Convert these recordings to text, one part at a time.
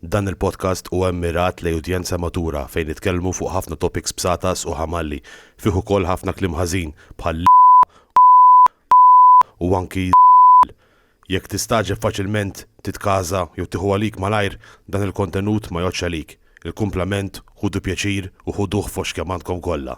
Dan il-podcast huwa mmirat lejn udjenza matura fejn nitkellmu fuq ħafna topics bsatas u ħamalli, fih ukoll ħafna kliem ħażin bħal l, u anki z, jekk tistagħġeb faċilment titkaża jew tieħu għalik malajr dan il-kontenut ma jgħoddx għalik, il-kumplament ħudu pjaċir u ħuduh fost kemm għandkom kollha.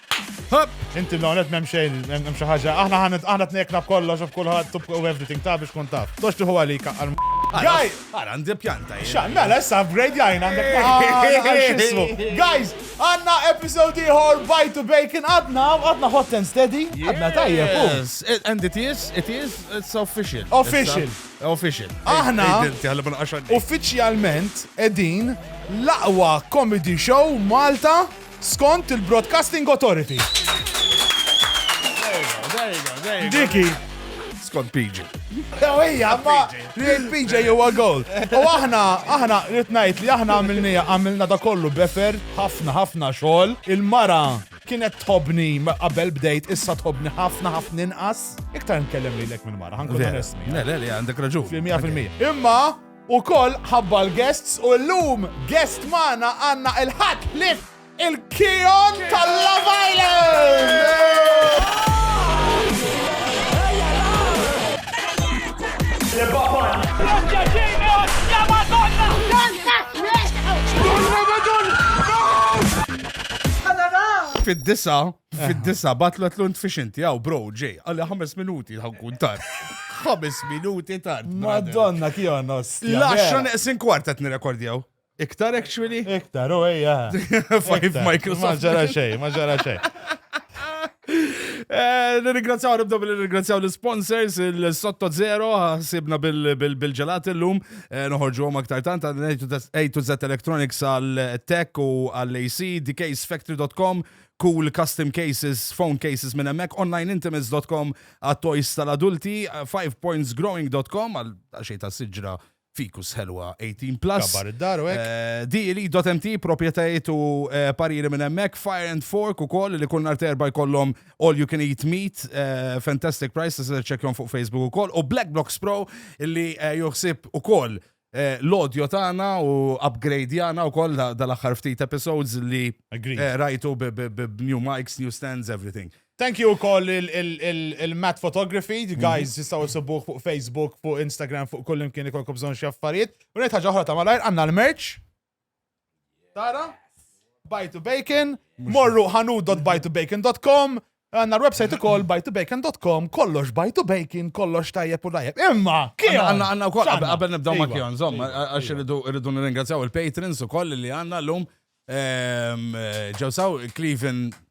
Inti non qed m'hemm xejn, m'hemm xi ħaġa. Aħna ħanet aħna tnejkna b'kollox u b'kulħadd u everything ta' biex tkun taf. Tox tieħu għalik għal Gaj! Ara, għandi pjanta jien. Xan, mela, issa upgrade jajna għandek għal-xismu. Guys, għanna episode iħor Bite to Bacon għadna, għadna hot and steady, għadna tajjeb. Yes, and it is, it is, it's official. Official. Official. Aħna, uffiċjalment, edin l-aqwa comedy show Malta Skont il-Broadcasting Authority. Dik hi. Skont PG. Jew hija, ma rejt PG huwa gold. U aħna, aħna rrid ngħid li aħna għamilnija, għamilna da kollu befer, ħafna ħafna xogħol. Il-mara kienet tħobni qabel bdejt issa tħobni ħafna ħafna inqas. Iktar nkellem lilek mill-mara, ħankun resmi. Le, le, għandek raġun. Fil-100%. Imma Ukoll ħabba l-guests u llum guest magħna għandna il-Ħadd Ħlief il-Kion tal-Love Island! Fid-disa' Fid-disa, batlu għatlu nfixinti, għaw, bro, ġej, għalli ħames minuti ħankun tar. ħames minuti tar. Madonna, kjo nos. Laxxu neqsin kwarta t-nirekordjaw. Iktar actually? Iktar, u eja. Fajf Microsoft. Ma ġara xej, ma ġara xej. Eh, nirringrazzjaw nibda bil nirringrazzjaw l-sponsors, il-Sotto Zero, sibna bil-ġelat l-lum, eh, noħorġu għom aktar tant, A to Z Electronics għal-Tech u għal-AC, dksfactory.com, cool custom cases, phone cases minn hemmhekk, onlineintimates.com għat-toys tal-adulti, fivepointsgrowing.com għal xejn ta' siġra fikus ħelwa 18 plus. Kabar id-dar u hekk. Eh, DLE.mt, proprjetajiet u eh, pariri minn hemmhekk, Fire and Fork ukoll li kull nhar terba jkollhom all you can eat meat, eh, fantastic price, tista' ċekkjom fuq Facebook ukoll, u Black Blocks Pro li eh, joħsib ukoll Eh, l-audio tagħna u upgrade'jana wkoll dal-aħħar ftit episodes li eh, rajtu b-new mics, new stands, everything. Thank you wkoll il-Matt Photography, mhm. guys jistgħu jsibuh fuq Facebook, fuq Instagram, fuq kull imkien ikolkom bżonn xi affarijiet. U ngħid ħaġa oħra ta' malajr għandna l-merch. Tara? Bite to Bacon, morru ħanut.bitebacon.com, Għanna l-websajt ukoll bajtubacon.com, kollox bajtu bacon, kollox tajjeb u tajjeb. Imma, kien għanna għanna u koll, għabel nibdaw ma kien, zomma, għax irridu nirringrazzjaw il-patrons u koll li għanna l-lum. Ehm, ġewsaw Cleveland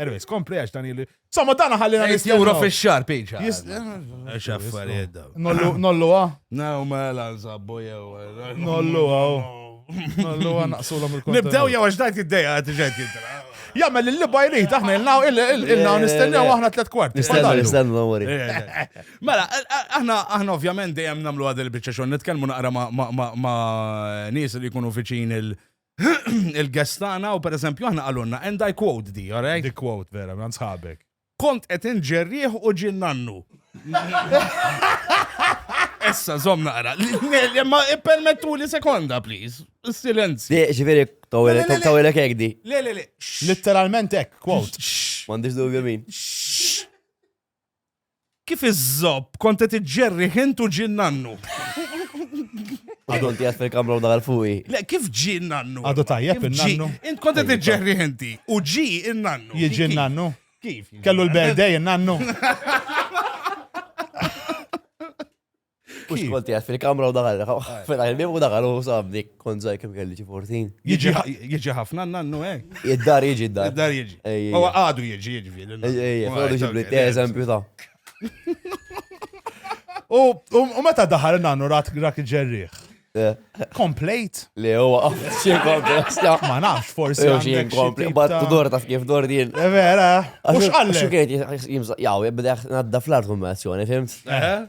Anyways, kompli għax dan il- Somma dana ħallina Eight nistennew. euro fi xar piċa. Jis- Għax affarijiet daw. Nollu, nollu, ah. Naw mela nżabbu jew. Nollu, ah. Nollu, ah, naqsulhom il-kontenut. Nibdew jew għax dajt id-dejja għad ġed jidra. Jagħmel li l-libba jrid, aħna il-naw, il-naw nistennew aħna tlet kwart. Nistennu, Fadallu. nistennu, don't worry. Mela, aħna aħna ovvjament dejjem nagħmlu għad il-biċċa xogħol nitkellmu naqra ma' ma' ma' ma' nies li jkunu viċin il- il-guest tagħna u pereżempju aħna qalulna and I quote di, all right? Di quote vera, man sħabek. Kont qed inġerrieħ u ġin nannu. Issa, zom naqra. Ma permettu li sekonda, please. Silenzju. Di, ġifiri, tawilek ek di. Le, le, le. Literalment ek, quote. Mandiġ dubju min. Kif iż-żopp kont qed iġġerri ħint u ġie nannu. Għadu inti għad fil-kamra u daħal fuqi. Le, kif ġi nannu? Għadu tajjeb il-nannu. Int kont qed iġġerri ħinti u ġi il-nannu. Jiġi il-nannu? Kif? Kellu l-berdej il-nannu. Kux kont jgħat fil-kamra u daħal, fetaħ il-bib u daħal u sabni kont zaħi kem kelli ġi 14. Jieġi ħafna nannu, eh? Id-dar jieġi, id-dar. Id-dar jieġi. U għadu jieġi, jieġi fil. Ejja, għadu ġibli, eżempju ta' U meta daħal nannu rat rak ġerriħ. Eh. Komplejt? Le, u għaf, xie komplejt. Ma nafx, forsi. Xie komplejt, bat dor taf kif dor din. Eh, vera, u xqalle. Xukajt, jimżaq, jaw, jibdeħ nadda fl-art kombinazzjoni, fimt? Eh.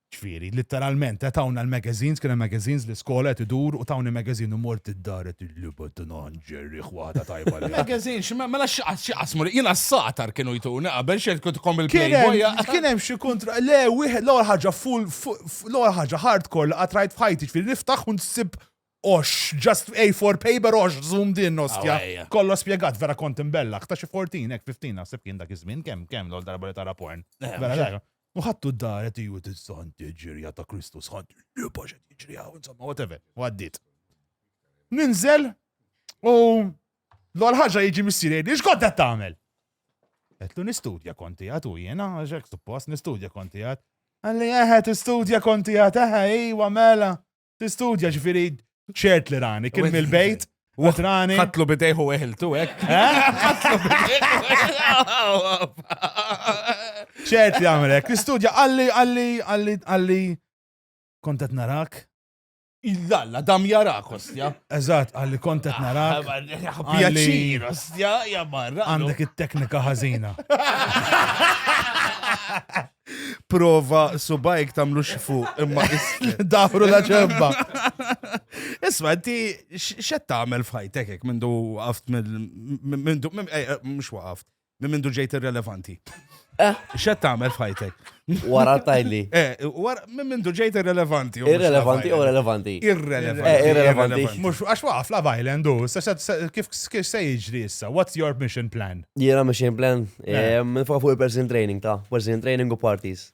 Ġifieri, litteralment, qed tawna l-magazines, kien hemm magazines, l-iskola qed idur u tawni magazine u mort id-dar qed il-liba tagħna ħanġerrih waħda tajba li. Magazine, xi ma, mela x'qas, x'qas mur, jiena s-sagħtar kienu jtuni qabel, x'qed kont ikom il-Playboy. Kien hemm xi kuntra, le wieħed l-ewwel ħaġa full, l-ewwel ħaġa hardcore li qatt rajt f'ħajti, ġifieri niftaħ u nsib għoxx, just A4 paper għoxx zoom din ostja. Kollox spjegat, vera kont imbellagħ, ta' xi 14, hekk 15 naħseb kien dak iż-żmien, kemm, kemm l-ewwel darba li tara porn. Vera, U ħadtu d-dar qed iju tissanti ġirja ta' Kristu sħant, libax qed jiġri hawn, insomma, whatever, u għaddiet. Ninżel u l-għal ħaġa jiġi missieri, li xkont qed tagħmel? Għetlu nistudja konti għat u jena, ġek suppost nistudja konti għat. Għalli eħe tistudja konti għat, eħe, iwa mela. Tistudja ġifiri ċert li rani, kien mill-bejt, u rani. Katlu bidejħu eħiltu, ek? ċert li għamilek, tistudja għalli, għalli, għalli, għalli, kontet narak. Illalla, dam jarak, ostja. Eżat, għalli kontet ah, narak. Pjaċir, ostja, jamarra. Għandek it-teknika ħazina. Prova subajk tamlu xifu imma Dafru la ċemba. Isma, ti xed tagħmel f'ħajtek hekk mindu għaft mindu mhux eh, eh, waqaft, minn mindu ġejt irrelevanti. Eh. Xed tagħmel f'ħajtek? Wara tajli. Minn mindu ġejt irrelevanti. Irrelevanti u relevanti. Irrelevanti. Irrelevanti. Mhux għax waqaf la bajlendu, kif se jiġri issa? What's your mission plan? Jiena mission plan. Eh, Nifoka fuq il-person training ta' person training u parties.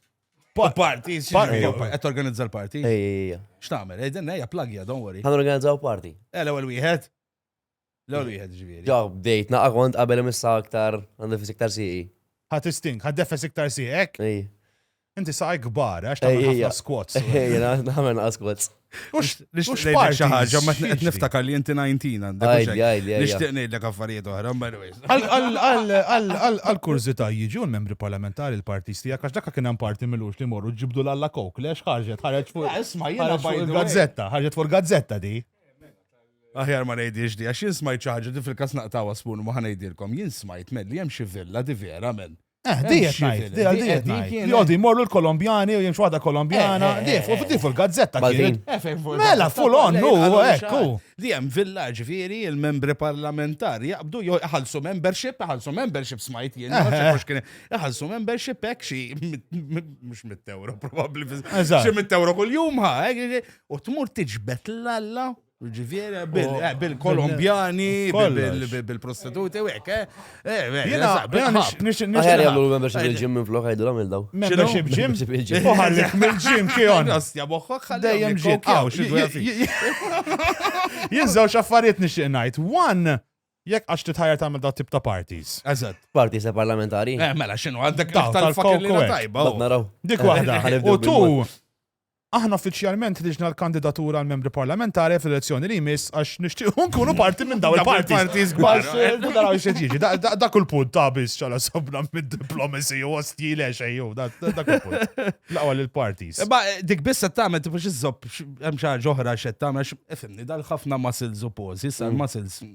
Party, qed organizza l-party. Ej, ej, ej. X'tagħmel? Ej, din hija plagja, don't worry. Ħan organizzaw party. Eh, l-ewwel wieħed. L-ewwel wieħed ġifieri. Ġaw, bdejt naqqa kont qabel imissa aktar għandifis iktar siqi. Ħadd istink, ħadd defes iktar sieqek. Ej. Inti saqaj kbar, għax ta' ħafna squats. Jena, naħmen għas squats. Ux, ux parti ħagġa, ma t-net niftakar li jinti 19, għandek nishtiq nejdlek affarijiet oħra, għal kurzita jiġu l-membri parlamentari l-partis tijak, għax dakka kienem parti mill-ux li morru ġibdu l-alla kok, lex ħarġet, ħarġet fuq. Eh, isma, jena gazzetta, ħarġet fuq gazzetta di. Aħjar ma nejdiex di, għax jien smajt ċaħġa di fil-kas naqtawa spun ma ħanejdilkom, jien smajt melli jem xivilla di vera men. Eh, di qed ngħid, di għal di qed ngħid. Li jgħodu jmorru l-Kolombjani u jimxu waħda Kolombjana, eh, eh, di fuq eh, il-gazzetta kien. Mela full on hu ekku. Li hemm villa ġifieri il-membri parlamentari jaqbdu jew iħallsu membership, iħallsu membership smajt jien, iħallsu membership hekk xi mhux mit-euro probabbli. Xi mit-euro kuljum ha, u tmur tiġbed l-alla Ġifieri bil-Kolombjani, bil-prostituti, u hekk, eh? Jiena nixtieq nixtieq. Jagħmlu membership il-ġim minn flok għidu għamil daw. Membership ġim? U ħallek mill-ġim kion. Ostja moħħok ħallejjem ġim. Jiżżewġ affarijiet nixtieq ngħid. One, Jekk għax titħajja tagħmel daw tip ta' parties. Eżatt. Parties ta' parlamentari. Eh, mela x'inhu għandek tal-fucking tajba. Naraw. Dik waħda. U tu Aħna uffiċjalment ħriġna l-kandidatur għal Membri Parlamentari fl-elezzjoni li jmiss għax nixtiequ nkunu parti minn dawn il-parties. Dak kull punt ta' biss ċala sobna mid-diplomacy u għasti le xejju, dak kull punt. Laqwa l-parties. Ba dik biss qed tagħmel tifu xi żobb hemm xi ħaġa oħra x'qed tagħmel, ifimni dal-ħafna muscles u poses, muscles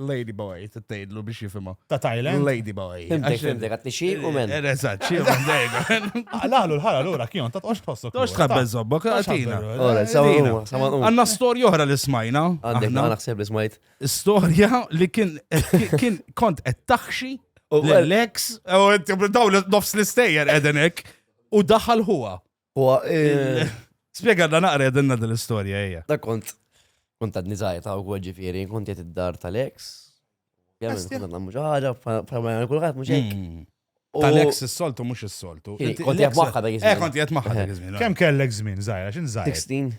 Lady boy, t-tgħidlu biex jifimha. Ta' Thailand? Lady boy. Fimtek, fimtek, għatni xi u men. Eh, eżatt, xi u men. Għalalu l-ħara l-ura, kjon, ta' tqox tħossok. Tqox tħabbel zobbok, għatina. Ora, samaruma, samaruma. Għanna storja oħra li smajna. Għandek, għanna xseb li smajt. Storja li kien, kien kont qed taħxi l-ex, u daw nofs l-istejjer edenek, u daħal huwa. Huwa eh, Spiega da naqra jedinna dil-istorja hija. da kont kont għadni żgħir ta' wkoll ġifieri, kont qed id-dar tal-ex. Jemmen Asti. kont nagħmlu xi ħaġa bħalma jagħmel kulħadd mhux hekk. Mm. U- Tal-ex is-soltu mhux is-soltu. Kien- Inti- kont l-ex- jgħid magħha dak iż-żmien. Eh, kont jgħid magħha dak iż-żmien. Kemm kellek żmien żgħira, x'in żgħir? 16.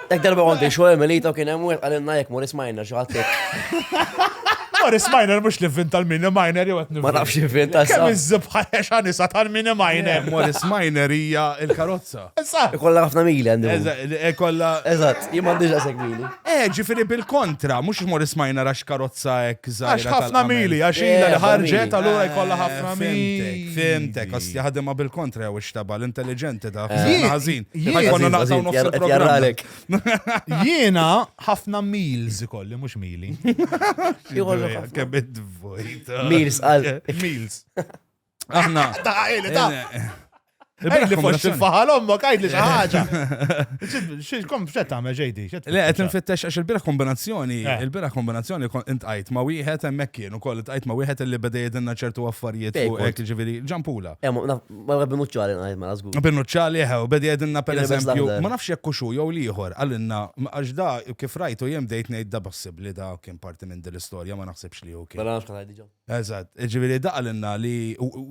Dak darba għandu xo Emilita u kien hemm wieħed għalinna jekk Morris Minor xi ħadd Morris Minor mhux li vvin tal-mini minor jew qed Ma nafx vvin tal Kemm iż-żibħa xanisa tal-mini minor. Morris Minor hija l-karozza. Ikolla ħafna mili għandu. Ikolla. Eżatt, jien m'għandix għasek mili. Eh, ġifieri bil-kontra, mhux Morris Minor għax karozza hekk żgħira. Għax ħafna mili, għax ilha li ħarġet allura jkollha ħafna mili. Fimtek, għas jaħdimha bil-kontra jew ixtaba l-intelligenti ta' ħażin. Ħajkonna naqtaw nofs il-programm. Jiena ħafna meals ikolli, mhux mili. Kebid vojta. Meals għal. Meals. Aħna. Da, għajli, da. Għajli fux il-faħal ommok, għajli xaħġa. Xilkom xet għamel ġejdi? Le, għet nfittex għax il-bira kombinazzjoni, il-bira kombinazzjoni int għajt ma wieħed emmek Ukoll tqajt ma' wieħed li beda jgħidilna ċertu affarijiet Ej, fuq kont. hekk, ġifieri ġampula. Eh, ma- naf- Ma rabbi muċċali ngħid mela żgur. Binuċċali eħe, u beda jgħidilna Kien ibes pereżempju, l-aħdar. ma nafx jekk hux hu jew l-ieħor, qalilna m- għax da kif rajtu jien bdejt ngħid da possibbli da kien parti minn din l-istorja ma naħsibx li hu kien. Mela nafx kien ngħid diġà. Eżatt, ġifieri da qalilna li u- u-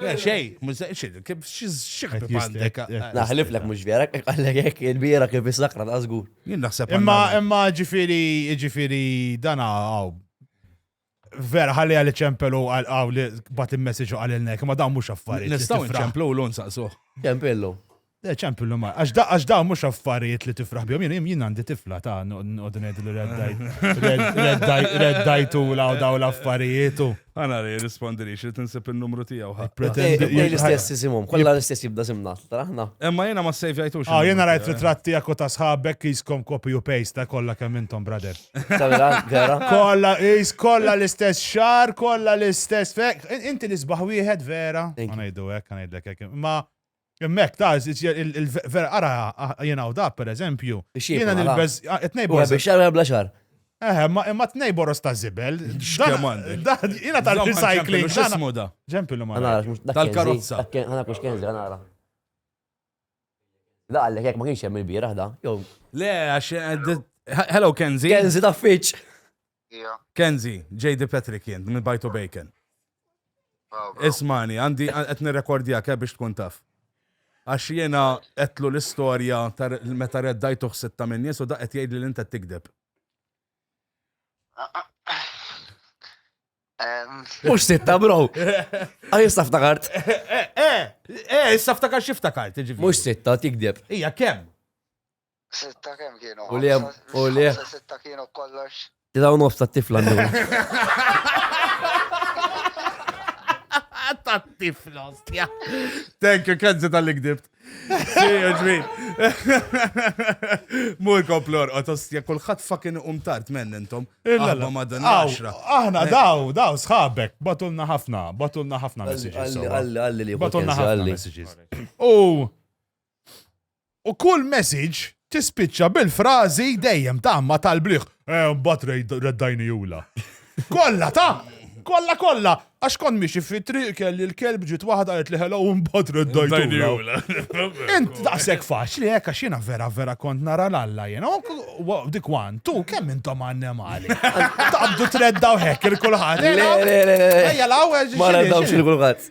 Xej, kif xieħed għandek. Naħlif lek mux vera, għallek jek il-bira kif jisakra ta' zgur. Jien naħseb. Imma, imma ġifiri, ġifiri, dana għaw. Vera, ħalli għalli ċempelu għaw li bat il-messagġu għalli l-nek, ma dan mux affarijiet. Nistaw ċemplu l-un saqsu. Ċempelu. Le, ċempi l-lum, għax dawn mux affarijiet li tifraħ bjom, jien jien għandi tifla ta' nqod ngħid li reddajt u law daw l-affarijiet u. Għana li rispondi li xil tinsib il-numru tijaw. Pretendi li l-istess jisimum, kolla l-istess jibda simna, traħna. Emma jena ma sejf jajtux. Ah, jena rajt ritrat tijak u ta' sħabek jiskom copy u paste ta' kolla kemm intom, brother. Kolla, jis kolla l-istess xar, kolla l-istess fek, inti l-isbaħ wieħed vera. Għanajdu għek, għanajdlek għek. Ma Hemmhekk ta' vera ara jien hawn dak pereżempju. Jiena nilbeż it-tnejboros. Biex jagħmel bla xar. Eħe, imma t-tnejboros ta' żibel. X'kemm għandi. Jiena tal-recycling. X'ismu da? Ġempillu ma. Tal-karozza. Ħana kux kenzi, ħana ara. Da għallek jekk ma kienx hemm il-bieraħ da, jew. Le, għax Hello Kenzi. Kenzi ta' fiċ. Kenzi, JD Patrick jien, minn Bajtu Bacon. Ismani, għandi qed nirrekordjak eh, biex tkun taf. Għax jiena qedlu l-istorja meta reddajtuh sitta minn nies u da qed jgħidli li inta tikdeb. Mux sitta, bro. Għaj, issa ftakart. Eh, eh, issa ftakart xiftakart, ġivi. Mux sitta, tikdeb. Ija, kem? Sitta kemm kienu? U li u li. Sitta kienu kollox. Tidaw nofs ta' tifla ndur. Ta' tifla, stja. Thank you, Kenzi tal-li gdibt. Mur komplor, otostja, kullħat fucking umtart menn intom. Aħna ma dan għaxra. Aħna daw, daw, sħabek, batulna ħafna, batulna ħafna messages. Għalli, għalli, għalli li. Batulna ħafna messages. U U kull message tispiċċa bil-frażi dejjem ta' ma tal-bliħ, eh mbagħad reddajni jula. Kollha ta' kollha kollha għax kont miexi fit-triq kelli l-kelb ġiet waħda qed li hello u mbagħad reddajni jula. Int daqshekk faċli hekk għax jiena vera vera kont nara l-alla jiena. Dik wan, tu kemm intom annemali. Taqbdu treddaw hekk il-kulħadd. Ejja l-għawel. Ma reddawx il-kulħadd.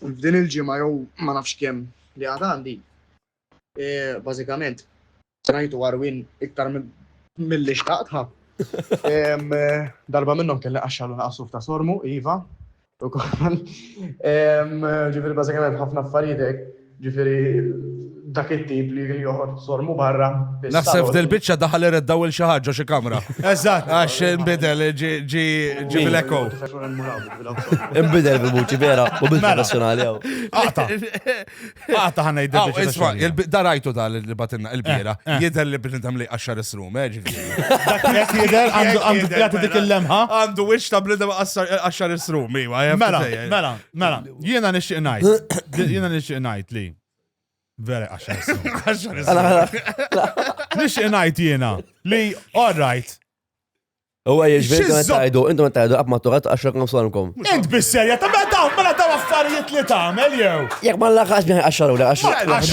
F'din il-ġimgħa jew ma nafx kemm li għad għandi, bażikament rajtu għarwien iktar milli xtaqtha. Darba minnhom kelli qaxxar u naqas suf ta' sormu, iva, ukoll. Ġifieri bażikament ħafna affarijiet hekk. Ġifieri dak it-tip li joħod sormu barra. Naħseb f'dil biċċa daħal ired daw il xi ħaġa xi kamra. Eżatt. Għax inbidel ġi ġi ġi bil-eko. Inbidel bil-vuċi vera u bil-professjonali għaw. Għata. Għata ħana jiddew. Isma, darajtu ta' li batinna il-bira. Jidher li bnintem li għaxar is-rum, ġifieri. Dak jidher għandu dik il-lemħa. Għandu wix ta' bnintem għaxar is-rum, iwa. Mela, mela, mela. Jiena nixtieq ngħid, jiena nixtieq ngħid li. Vera għaxar Nixtieq ngħid jiena li all right. Huwa jiġbir intom tajdu, intom tajdu qatt ma tuqat għax raqna f'salmkom. Int bis-serja ta' meta mela ta' affarijiet li tagħmel jew. Jekk ma laħax biex għaxar u għax.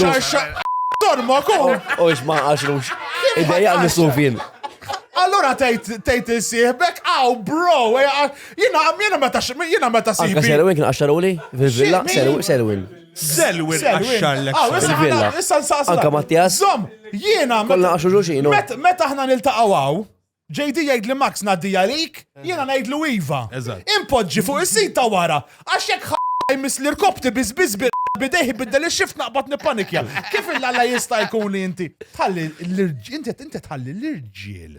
Għaxar torma kum. U x'ma għaxrux. Ideja nisufin. Allora tgħid tgħid isieħbek, aw bro, eh, Jina, jina meta, jina meta sibi. Anka Selwin kien għaxxaruli? Fil-villa? Selwin. Selwin għaxxarlek. Fil-villa. Anka Mattias? Zom, jina. Kolla għaxu ġuġinu. Meta ħna nil-taqawaw, JD jgħid li Max naddi għalik, jina najd lu Iva. Impoġġi fuq is-sit ta' wara, għax jekk ħajmis l-irkopti bizbiz bidejħi biddel il-xift naqbad nipanikja. Kif il-għalla jista' jkun li inti? Tħalli l-irġiel, inti tħalli l-irġiel.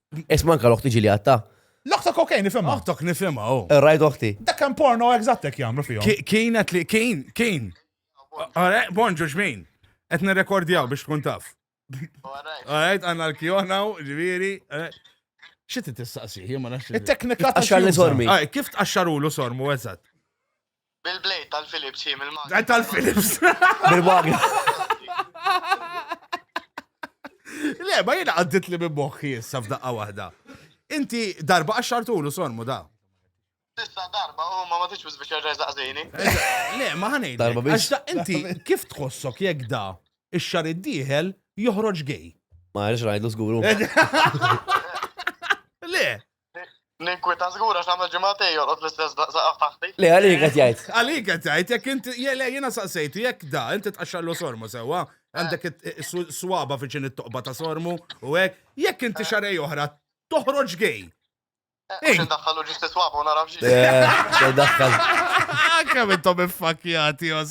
Isma anka l-oħti ġili għatta. L-oħtok okej nifimha. Oħtok nifimha, oh. Eh, rajt oħti. Dak kan porno eżattek jagħmlu fihom. Kienet li kien, kien. Għare, bonġu xmin. Qed nirrekordjaw biex tkun taf. Għarajt, għanna l-kjona u ġviri. Eh. Xit t-tistaqsi, jimma naxxi. Il-teknika ta' xar li sormi. Kif t-axxarulu sormu, eżat? Bil-blade tal-Philips hi mill-magna. Blade tal-Philips. Bil-magna. Le, ma jena għaddit li minn moħħi issa f'daqqa waħda. Inti darba għaxxartulu sormu da. Tista darba, u ma ma tix biz biex jirreżaq zini. Le, ma ħanej. Darba biex. Inti kif tħossok jek da ix-xar id-dieħel joħroġ gej? Ma għarix rajdu zguru. Le, L-inkwita żgura x'għamel ġimgħatej jorqod l-istess saqaf taħti. Le, għalik qed jgħid. Għalik qed jgħid, jekk inti, le, jiena saqsejtu, jekk da, inti tqaxxallu sormu sewwa, għandek swaba fiċin it-toqba ta' sormu u hekk, jekk inti eh. xarej oħra, toħroġ gej. Ix eh, daħħalu ġisti swaba u narafx. Eh, daħħal. Kemm intom iffakjati,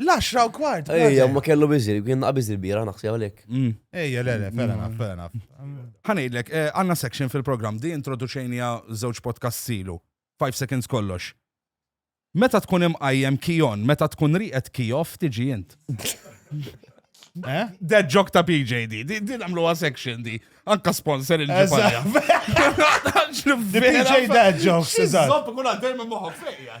L-10 u kwart. Ejja, ma kellu biżir, kien naqa biżir bira, naħseb għalek. Mm. Ejja, le, le, fera naf, fera naf. Ħanidlek, eh, għanna section fil-program di introduċejnija żewġ podcast silu. 5 seconds kollox. Meta tkun imqajjem kijon, meta tkun riqet kijof tiġi jint. Eh? Dead joke ta' PJ di, di namlu section di. Anka sponsor il-ġipanja. PJ dead joke. Zopp kun għaddej minn moħok fejja.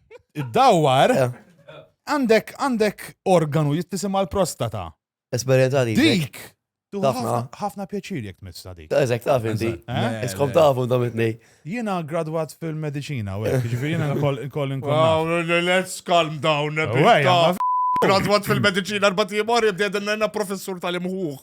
Id-dawwar Eh, għandek għandek organu jittisim għal prostata. Esperjenza li. Dik tuħu Ħafna. ħafna- ħafna pjaċir jekk tmissa dik. Eżek, taf inti. Eh? Iskom tafu dom it-nej. Jiena gradwat fil-medicina, u hekk, ġifieri jiena nkoll nkoll inkun naf. Wow, let's calm down a bit. Uwejja, ta. ma Gradwat fil-medicina arbat jimor jibdedna professur tal-imħuħ.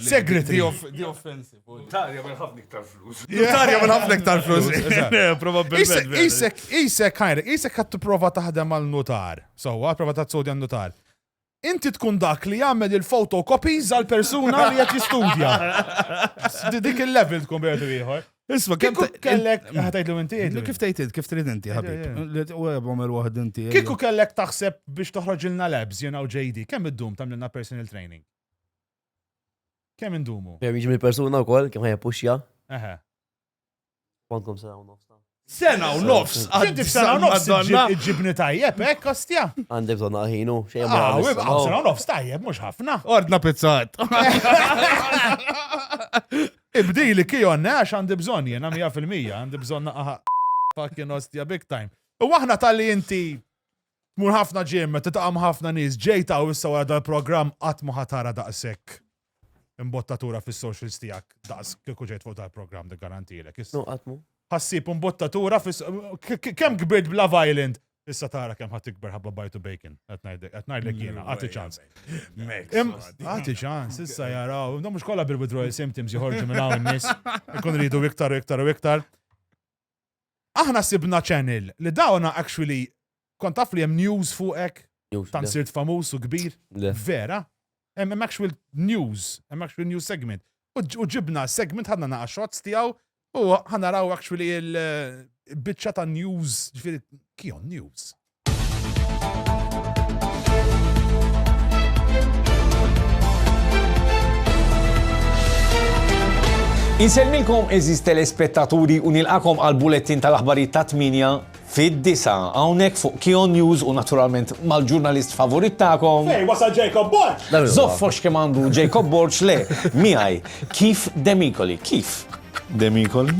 Segretary. The offensive. Notarja minn ħafna iktar flus. Notarja minn ħafna iktar flus. Probabbilment. Isek, isek, ħajrek, isek għat prova taħdem għal notar. So, għat prova taħt sodja notar. Inti tkun dak li jagħmel il-fotocopies għal persuna li qed jistudja. Dik il-level tkun bejtu ieħor. Isma, kemm kellek ħatajtlu inti? Kif tgħid int, kif trid inti, ħabib? U għabhom il-waħd inti. Kieku kellek taħseb biex toħroġ ilna labs, jena u JD, kemm id-dum tamlilna personal training? Kemm indumu? Kemm jiġi mill-persuna wkoll, kemm ħajja puxja? Eħe. Kwankom sena u nofs. Sena u nofs, għaddi sena u nofs ġibni tajjeb, hekk kostja. Għandek donna ħinu, xejn ma. Ah, sena u nofs tajjeb, mhux ħafna. Ordna pizzat. Ibdil li Kion għax għandi bżonn jiena mija fil-mija, għandi bżonn naqaħa fucking ostja big time. U aħna talli inti tmur ħafna ġim, titaqam ħafna nies, ġejt hawn issa wara dal-programm qatt ma ħatara daqshekk imbottatura fis-socials tiegħek daqs kieku ġejt fuq dal-programm dik garantilek. Nuqatmu. Ħassib imbottatura fis kemm kbirt bla violent Issa tara kemm ħadd ikber ħabba bajtu bacon. Qed ngħidlek, qed ngħidlek jiena, għati ċans. Għati ċans, issa jaraw, da mhux kollha bil-withdrawal symptoms joħorġu minn hawn nies. Ikun ridu iktar u iktar u iktar. Aħna sibna channel li dawna actually kont taf li hemm news fuqek. Tan sirt famuż u kbir. Vera. Hemm actual news, hemm actual news segment. U ġibna segment ħadna naqa' shots tiegħu u ħa naraw actually il-biċċa ta' news, ġifieri kion news. Insellmilkom eżiż telespettaturi u nilqakom għall-bulettin tal-aħbarijiet tat-tmienja Fid-disgħa, hawnhekk fuq Kihon News u naturalment mal-ġurnalist favorit tagħkom. Fejn wasal Jacob Borg? Żoffox kemm għandu Jacob Borg, le, miegħi, Keith Demicoli. Keith Demicoli?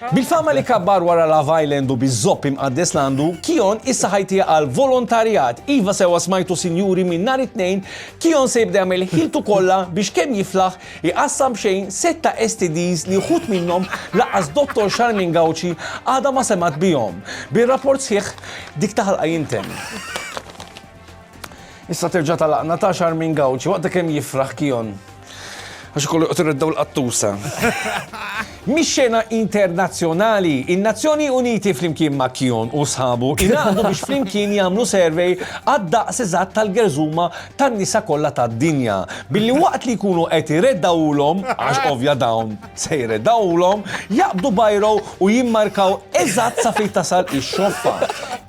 Bil-fama li kabbar wara Love Island u biż-żopp imqaddes l-għandu, Kihon issa ħajtiha għal volontarjat. Iva sewwa smajtu sinjuri minn nhar it-Tnejn, Kihon se jibda jagħmel ħiltu kollha biex kemm jiflaħ Iqassam b'xejn sitta STDs li wħud minnhom lanqas Dottor Charmaine Gauci għadha ma semgħet bihom. Bir-rapport sħiħ dik ta' ħalqa jintemm. Issa terġa' tagħlaqna ta' Charmaine Gauci waqt kemm jifraħ Kion għax ikollu joqgħod ireddaw l-qattusa. Mix-xena internazzjonali, in-Nazzjoni Uniti flimkien ma' Kion u sħabu ingħaqdu biex flimkien jagħmlu survey għad-daqs eżatt tal-gerżuma tan-nisa kollha tad-dinja, billi waqt li jkunu qed ireddgħulhom, għax ovvja dawn se jreddgħulhom, jaqbdu bajro u jimmarkaw eżatt sa fejn tasal ix-xoffa.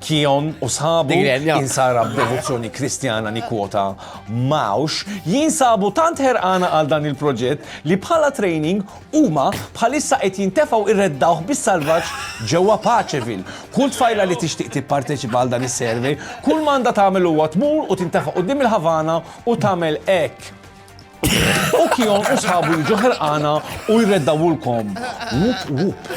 Kion u sħabu, insara b'devozzjoni Kristjana nikkwota Mausch, jinsabu tant ħerqana għal dan il-proġett li bħala training Huma bħalissa qed jintefgħu irreddawh bis-salvaġġ ġewwa Paceville. Kull tfajla li tixtieq tipparteċipa għal dan is-survey, kull ma għandha tagħmel huwa tmur u tintefa' quddiem il-Havana u tagħmel hekk. U Kion u sħabu jiġu ħerqana u jreddawhulkom. Wup wup.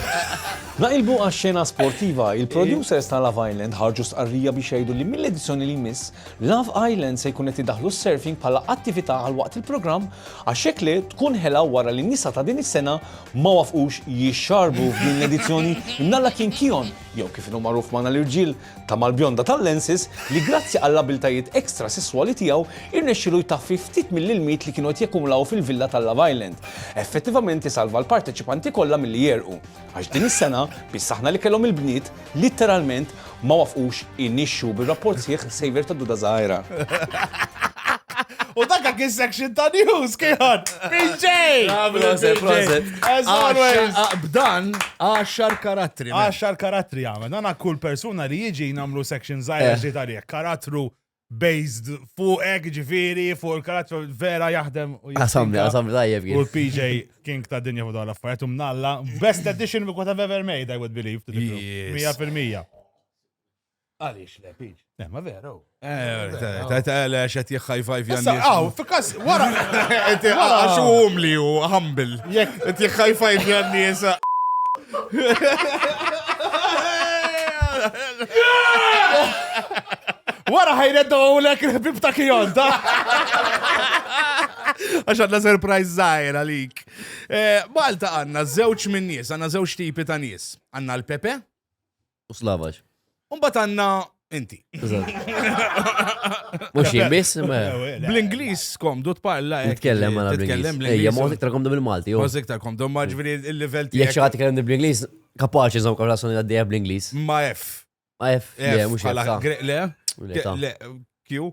Naqilbu għax-xena sportiva, il-producers ta' Love Island ħarġu stqarrija biex jgħidu li mill-edizzjoni li jmiss, Love Island se jkun qed idaħħlu s-surfing bħala attività għal waqt il-programm Għax jekk le, tkun ħela wara li n-nisa ta' din is-sena ma waffqux jixxarbu f'din l-edizzjoni imnalla kien Kion, jew kif inhu magħruf magħna l-irġiel, ta' mal-bjonda tal-lenses li grazzi għall-abiltajiet extra sesswali tiegħu irnexxielu jtaffi ftit mill-ilmiet li kienu qed jakkumulaw fil-villa tal-Love Island. Effettivament isalva l-parteċipanti kollha milli jegħrqu. Għax din is-sena, biss aħna li kellhom il-bniet, Litteralment ma wafqux inixxu bir-rapport sħiħ Saver ta' Duda Żgħira. U dakka kien section ta' news kieħan. PJ! As always. B'dan, għaxar karattri. Għaxar karattri għamel. Nana kull persuna li jiġi namlu section zaħja ġiet għalih. Karattru based fuqek, ġifiri, fuq il-karattru vera jaħdem. Għasamni, għasamni tajjeb. U l-PJ King ta' dinja fuq dawn l-affarijiet, umnalla, best edition we could have ever made, I would believe. 100%. Għalix le, PJ. Eh, ma veru. Eh, ta' ta' le, xet jħajfaj fjan. Aw, fikas, wara. Għaxu umli u humble. Jek. Jħajfaj fjan nisa. Wara ħajredda u l-ek il-ħbib ta' kijon, ta' Għax għadna surprise zaħir għalik. Eh, Malta għanna zewċ minn nies, għanna zewċ tipi ta' nies. Għanna l-Pepe, U slavaġ. Umbat għanna inti. Mux jien biss, ma. Bl-Inglis komdu tparla. hekk, Nitkellem għana titkellem bl-Inglis. Ejja, bl-Inglis. mod iktar komdu bil-Malti. jew- Kważi iktar komdu, ma ġviri il-level Jek tiegħek xaħat ikellem bl-Inglis, kapaċi zom konversazzjoni għaddejja bl-Inglis. ma F. Ma F, le, F, mux bħala F. gre- Le, Le, ta. le, Q.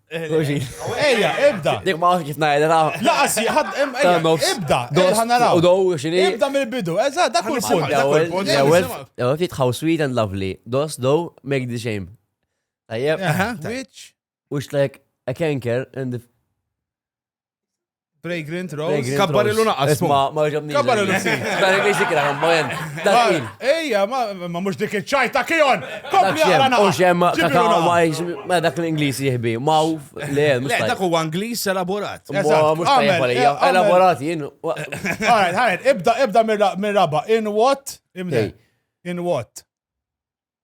Ejja, ibda. Dik ma kif ngħid ra. Laqas ħad ibda. Ħa naraw. U dow xini. Ibda mill-bidu. Eża, dak kull punt. L-ewwel, l-ewwel, l-ewwel fit how sweet and lovely. Those though make the shame. Tajjeb. Which? Which like a canker and the Fragrant Rose. Kabbar il naqas. Isma, ma ġabni. Kabbar il si. Bari biex ikra, ma jen. Dakin. Ejja, ma mux dik iċċajta kijon. Kompli għara naqas. Ux jem, kakaw ma jiex, ma dak l-Inglis jihbi. Ma u, le, mux. Le, dak u Inglis elaborat. Ma mux tajjeb għalija. Elaborat jien. Għarajt, għarajt, ibda, ibda mir-raba. In what? Imdej. In what?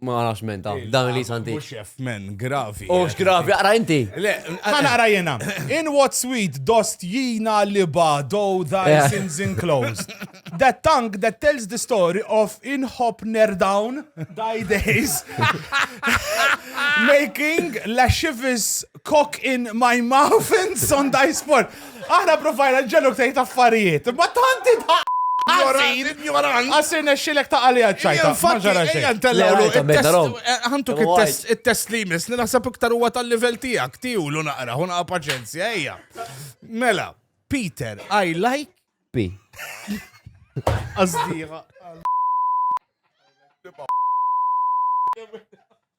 Ma nafx men ta' dan li santi. Mux jaf men, gravi. U x'gravi, għara inti. Għana għara jena. In what sweet dost jina li bado thy eh. sins enclosed. That tongue that tells the story of in hop near down thy days. Making lascivious cock in my mouth and Sunday sport. Aħna provajna ġeluk tajt affarijiet. Ma tanti ta' Għasirna xilek ta' għalija ċajta. Għantuk il-test li jmiss, ninaħseb iktar huwa tal-level tijak, tiju l naqra, huna paċenzja, eja. Mela, Peter, I like. P. Azdiħa.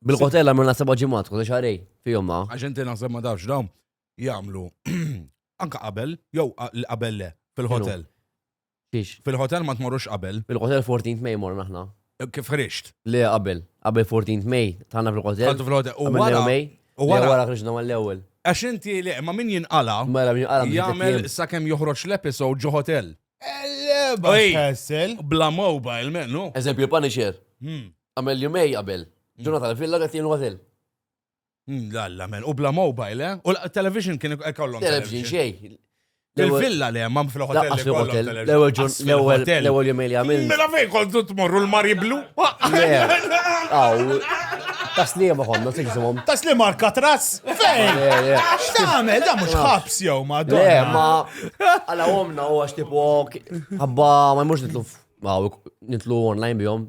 Bil-hotel għamilna seba' ġimgħat, kważi xarej fihom ma. Għax inti naħseb ma tafx dawn jagħmlu anka qabel jew qabel le fil-hotel. Fiex? Fil-hotel ma tmorrux qabel. Fil-hotel 14 May morna aħna. Eh, kif ħriġt? Le qabel, qabel 14 May tagħna fil-hotel. Għandu fil-hotel. U wara May. U wara wara ħriġna mal-ewwel. Għax inti li ma min jinqala. Mela min jinqala. Jagħmel sakemm joħroġ l-episod ġo hotel. Elleba. Bla mobile, mennu. Eżempju, Punisher. Hmm. Għamel jumej qabel. Ġuna tal-villa għet jenu għazel. Hmm, Lalla, men. U bla mobile, eh? U l-television kien kollom. Television xej. Il-villa li hemm fil-hotel. L-ewwel jumej li għamil. Mela fejn kontu tmorru l-mari blu? Taslima konna tiġżimhom. Taslima Alcatraz? Fejn? X'tagħmel da mhux ħabs jew ma dun. Le, ma għala omna u għax tipo ħabba ma jmux nitlu nitlu online bihom.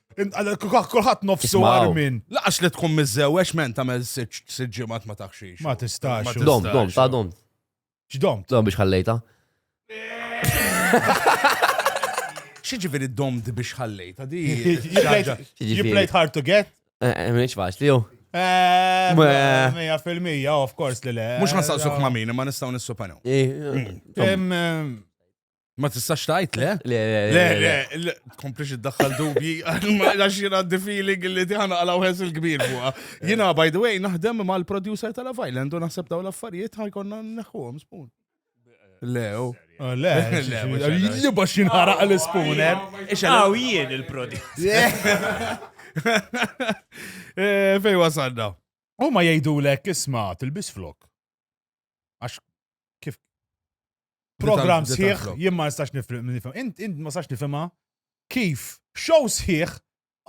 Kulħadd nofsu Ismaw. armin. Laqax li tkun miżżewwex men tagħmel sitt sitt ġimgħat ma taħxix. Ma tistax. Ma Dom, tistax. dom, ta' dom. X'dom? Dom biex ħallejta. Xi ġifieri domt biex ħallejta di. You played- ħaġa- You Jiġifieri. played hard to get? Eh, Minix faċli, jo. Eh, Meh. Mija fil-mija, of course li le. Mhux ħansaqsuk ma' min, ma nistgħu nissupanew. Eh, Em, em, Ma tistax tajt, le? Le, le, le, le, komplix id-daħħal dubji, għax jina għaddi feeling li tiħana għala uħes il-kbir buqa. Jina, by the way, naħdem ma l-producer tal Island u naħseb daw l-affarijiet ħajkonna neħħuħom spoon. Le, u. Oh, le, le, li bax jinħaraq l-spooner. Għaw jien il-producer. Eh, fej wasanna. U ma jgħidulek isma' tilbis flok. Għax kif program sħiħ jien ma nistax nifhem. Int int ma sax nifhimha kif show sħiħ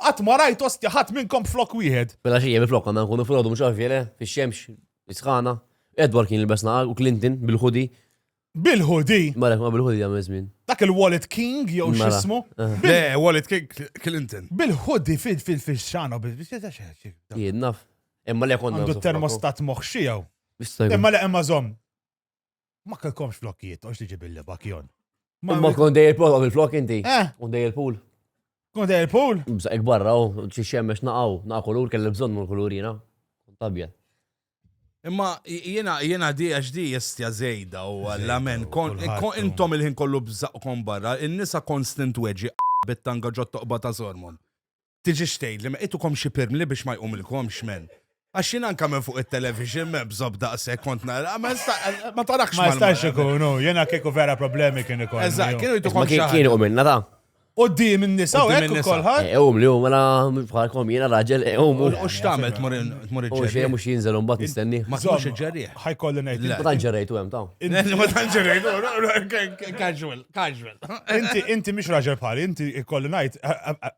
qatt ma rajt ostja ħadd minnkom flok wieħed. Mela xi jiem flok għandna nkunu frodu mhux għarfjele fix-xemx isħana. Edward kien il-besna u Clinton bil-ħudi. Bil-ħudi? Marek ma bil-ħudi għam izmin. Dak il-Wallet King jew mela. xismu? Eh. Le, Wallet King Clinton. Bil-ħudi fil-fil-xana bil-xana. Jinnaf. Imma le konna. Għandu termostat moħxijaw. Imma le imma zom. Ma kellkomx flokkijiet, għax tiġi billi bakjon. Ma kon dej il-pool, għamil flok inti. Eh. Kon dej il-pool. Kon dej il-pool? Bża ikbarra, u xie xemmex naqaw, naqa kulur, kelli bżon mul kulurina. Tabja. Imma jena jena di għax di jistja zejda u għalla men, kon intom il-ħin kollu bżaqkom barra, il-nisa konstant weġi bittanga ġottoqba ta' zormon. tiġix tgħidli ma qitukom xi pirmli biex ma jqumilkomx men. Għax jien anka minn fuq it-television me bżob daqshekk kont nara, ma nista' ma tarakx Ma jistax ikun, no, jiena kieku vera problemi kien ikun. Eżatt, kienu jtukom Ma kien kien u minna ta' U d in-nisa u hekk kolħat. E, um li u mela bħalkom jiena raġel, e, um. U x'tagħmel tmur tmur iġġerri. U xejn mhux jinżel imbagħad nistenni. Ma tmurx iġġerri. Ħajkolli ngħid. Ma tant ġerrejtu hemm taw. Ma tant ġerrejtu, casual, casual. Inti inti mhix raġel bħali, inti ikolli ngħid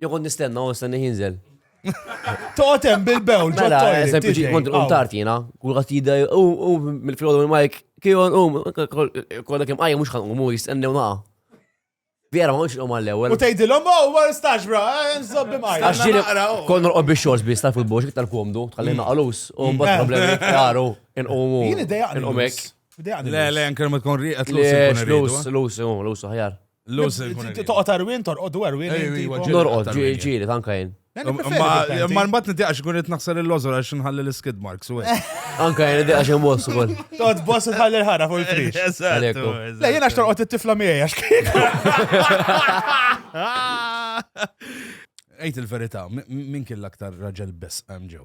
Jo kont nistenna u nistenna jinżel. Toqgħod hemm bil-bewl ġo Mela, toilet, eżempju, tiġi. ġi kont Aw. untart jiena, kull għat jida, u, u, mill-filgħodu minn Mike, kion, u, kolla kem għajja mux ħanqum, u jistennew naqa. Vera, ma mux nqum għall-ewel. U tgħidilhom, oh, ma nistax bra, eh, nżobbi mqajja. Għax ġili, naqra, u- kon norqob biex xors biex tal futbol, xik tal-komdu, tħalli naqalus, u mbagħad problemi jaru, inqumu. Jien idejaqni. Inqumek. Idejaqni. Le, le, anke ma tkun rieqet Le, lus. lus, lus, u, lus, ħajar. Toqgħod arwin, torqodu arwin. Norqod, ġieli, tanka jien. Ma nbat nitiqax kun qed naħsar il-lożor għax nħalli l-skid marks u Anka jien nitiqax imboss ukoll. Toqgħod boss tħalli l-ħara fuq il-prix. Eżattu. Le jiena x'torqod it-tifla miegħi għax kien. Ejt il-verità, min kien l-aktar raġel biss hemm ġew?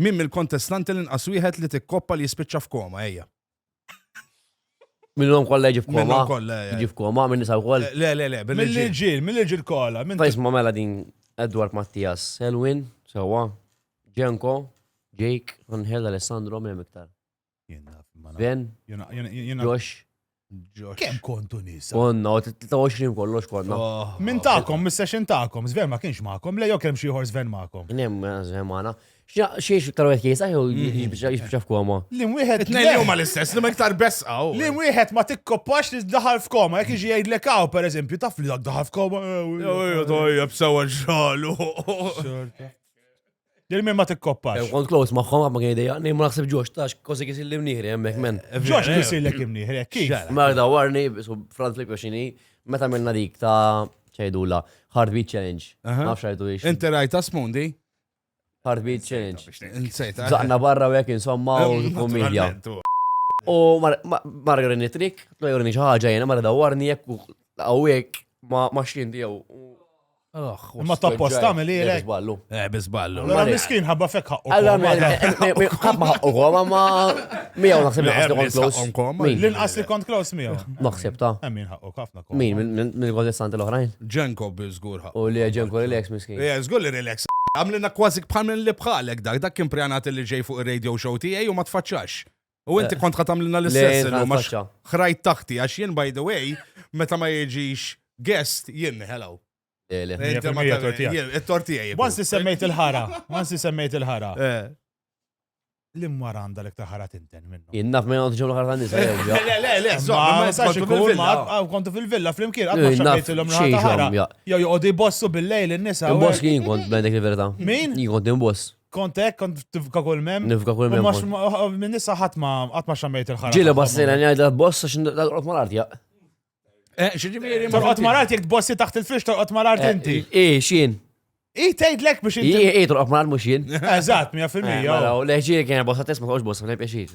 Min mill-kontestanti l-inqas wieħed li tikkoppa li jispiċċa f'koma, ejja. Minnhom kollha jiġi f'koma. Minnhom kollha, ejja. Jiġi f'koma, minn nisa wkoll. Le, le, le, billi. Mill-irġiel, mill-irġiel kollha. Ta' jisma' mela din Edward Mattias, Selwin, sewwa, Ġenko, Jake, Angel, Alessandro, minn iktar. Jien naf, ma naf. Sven, Jien naf- jien- jien naf- Josh, Josh. Kemm kontu nisa? konna, u 23 kollox konna. Oh, Min ta'kom, mis-session ta'kom, Sven ma kienx ma'kom, le jok hemm xi ieħor Sven ma'kom. Nem, Sven maħna. Xiex iktar għek jisa, jew jibxa f'koma. Lim wieħed Tnejn le. huma l-istess, li ma iktar besqa. u- Lim wieħed ma tikkoppax li daħal f'koma, jekk iġi jgħidlek hawn pereżempju, taf li dak daħal f'koma. eh, Jew jew tajjeb sewa ġralu. Dil minn ma tikkoppax. Hemm kont close magħhom ma kien idea, ma naħseb ġox tax kosi kisi li mnieħri hemmhekk men. Ġox kisi li kien mnieħri, kif? Marda warni, su Franz Flick xini, meta minna dik ta' ċajdula, Heartbeat Challenge. Ma fxajtu ix. Inti rajta smundi? Heartbeat Challenge. Insejta. Zaqna barra u jek insomma u komedja. U margarini trik, tlajurni xaħġa jena, marda warni jek u għawek ma xinti jew. Ma ta' post tagħmel ilek. Bizballu. Eh, bizballu. Allora miskin ħabba fek ħaqqu. Allora ħabba ħaqqu koma ma miegħu naħseb li ħaqqu close. L-inqas li kont close miegħu. Naħseb ta'. Min ħaqqu ħafna koma. Min minn għol istanti l-oħrajn? Ġenko biżgur ħaqqu. U li ġenko relax miskin. Eh, żgur li relax. Għamlina kważi bħal minn li bħalek dak, dak kien pjanat li ġej fuq ir-radio show tiegħi u ma tfaċċax. U inti eh, kont ħatamlina l-istess illum għax ħrajt taħti għax jien by the way meta ma jiġix guest jien hello. Il-tortijaj. Once semmejt il-ħara, once semmejt il-ħara. Eh. L-imwar għanda l iktar ħara tinten minnu. Innaf ma jgħandu ġemlu ħara nisa. Le, le, le, ma jistax ikun mar, kontu fil-villa fl-imkien, għadma xabbejt l-om ħara. Jow joqodi bossu bil-lejl il-nisa. Boss kien kont bendek il-verita. Min? Jien kont boss. Kont hekk, kont tifka kull mem. Nifka kull mem. Minn issa ħadd ma qatt ma xammejt il-ħarġ. Ġieli bassina ngħidha boss għax naqgħod mal-art jaq. Eh, Ġifieri torqod mal-art jekk tbossi taħt il-fix torqod mal-art eh, inti. Eh, xin. I tgħidlek biex inti. I torqod mal-art mhux jien. Eżatt, 100%. Mela, leħġieri kien bossa tisma' tgħux bossa, ma tibqiex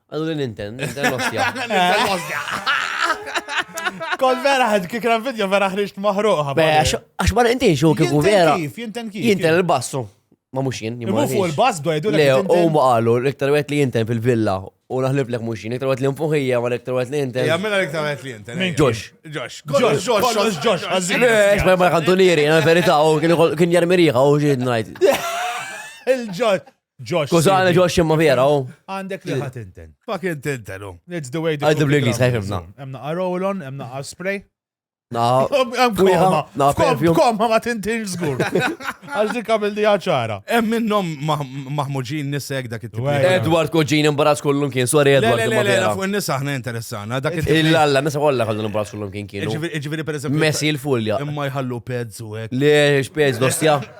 Għallu li ninten, ninten l-ostja. Ninten l-ostja. Kol vera ħed kik ran video vera ħriġt maħruqa. Għax ma nintin xo kik vera. Jinten kif? Jinten il-bassu. Ma mux jien. Imma fuq il-bass do jdu l-għu. Le, u ma għallu, l-iktar għet li jinten fil-villa. U naħlib l-ek mux jien, iktar għet li nfuħija, ma l-iktar għet li jinten. Jammina l-iktar għet li jinten. Minn ġox. Ġox. Ġox, ġox, ġox. Għazzin. Ma jkantunieri, għan verita, u kien jarmiriħa, u ġid najt. Il-ġox. Josh. Kużani Josh imma vera, u. Għandek li ħat inten. Fucking tinten, u. It's the way the. Għaddu bl-Inglis, ħajfimna. Emna għarolon, emna għaspray. Na, koma, na, koma ma tintin zgur. Għax dik għamil di ċara. Em minnom maħmuġin nisek dak it Edward Koġin imbarazz kollum kien, sorry Edward. Le, le, fuq nisa ħna interessana. Dak it Illa, nisa kollha kollum imbarazz kollum kien kienu. Ġiviri per eżempju. Messi il-fulja. Imma jħallu pezz u hekk. Le, xpezz dostja.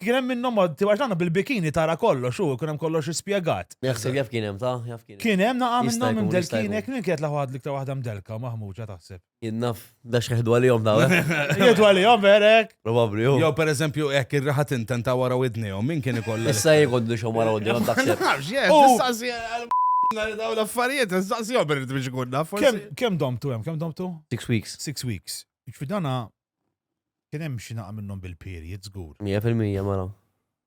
Kien hemm minnhom għaddi għax dan bil-bikini tara kollox u kien hemm kollox ispjegat. Jaħseb jaf kien hemm ta' jaf kien. Kien hemm naqa' minnhom imdelkinek minn kienet l-aħħar waħda l-iktar waħda mdelka maħmuġa taħseb. Jien naf dax jieħdu għalihom daw. Jieħdu għalihom verek. Probabbli hu. Jew pereżempju hekk ir-raħa tinten ta' wara widnejhom min kien ikollha. Issa jgħoddu xhom wara widnejhom taħseb. Daw l-affarijiet, nistaqsi jom irrid biex ikun naf. Kemm domtu hemm, kemm domtu? Six weeks. Six weeks. Ġfidana Kien hemm xi naqa' minnhom bil-period żgur. Mija fil-mija mela.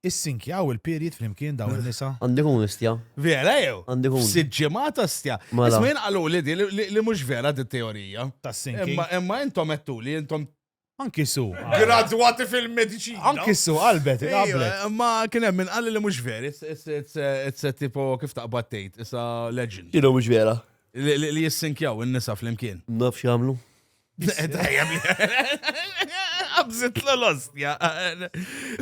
Issinkjaw il-period flimkien dawn in-nisa? Għandu jkun istja. Vera jew? Għandu jkun. F'sitt ġimgħat astja. Mela. Isma' jien qaluli di li mhux vera di t-teorija. Tas-sinking. Imma intom għedtuli intom. Anki Su. Gradwati fil-mediċina. Anki Su qalbet, qablet. Imma kien hemm min qalli li mhux ver, it's a tipo kif taqbad tgħid, it's a legend. X'inhu mhux vera? Li jissinkjaw in-nisa flimkien. Nafx jagħmlu. Għabżit l-ostja.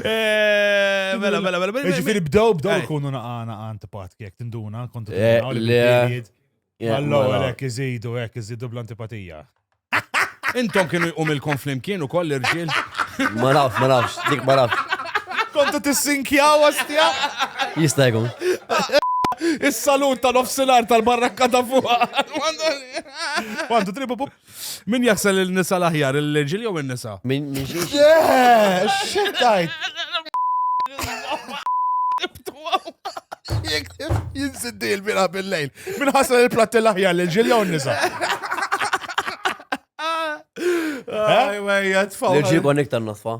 Eh, mela, mela, mela. mela Ġifiri bdew, bdew kunu naqana għant patki, jek tinduna, kontu eh, t-għawli. Allo, għalek, iżidu, għek, iżidu bl-antipatija. Intom kienu jqum il-kom flimkien u koll irġil. Ma nafx, ma nafx, dik ma nafx. Kontu t-sinkjaw għastja? Jista' jkun. Is-salut tal-offsinar tal-barrakka ta' fuqa. Għandu tribu pup. Min jaħsel il-nisa l-aħjar, il-ġil jew il-nisa? Min ġiex. Xittajt! Jek jinsiddi il-bira bil-lejl. Min ħasel il-platti l-aħjar, il-ġil jew il-nisa? Ejja, tfaw. L-ġibon iktar nasfa.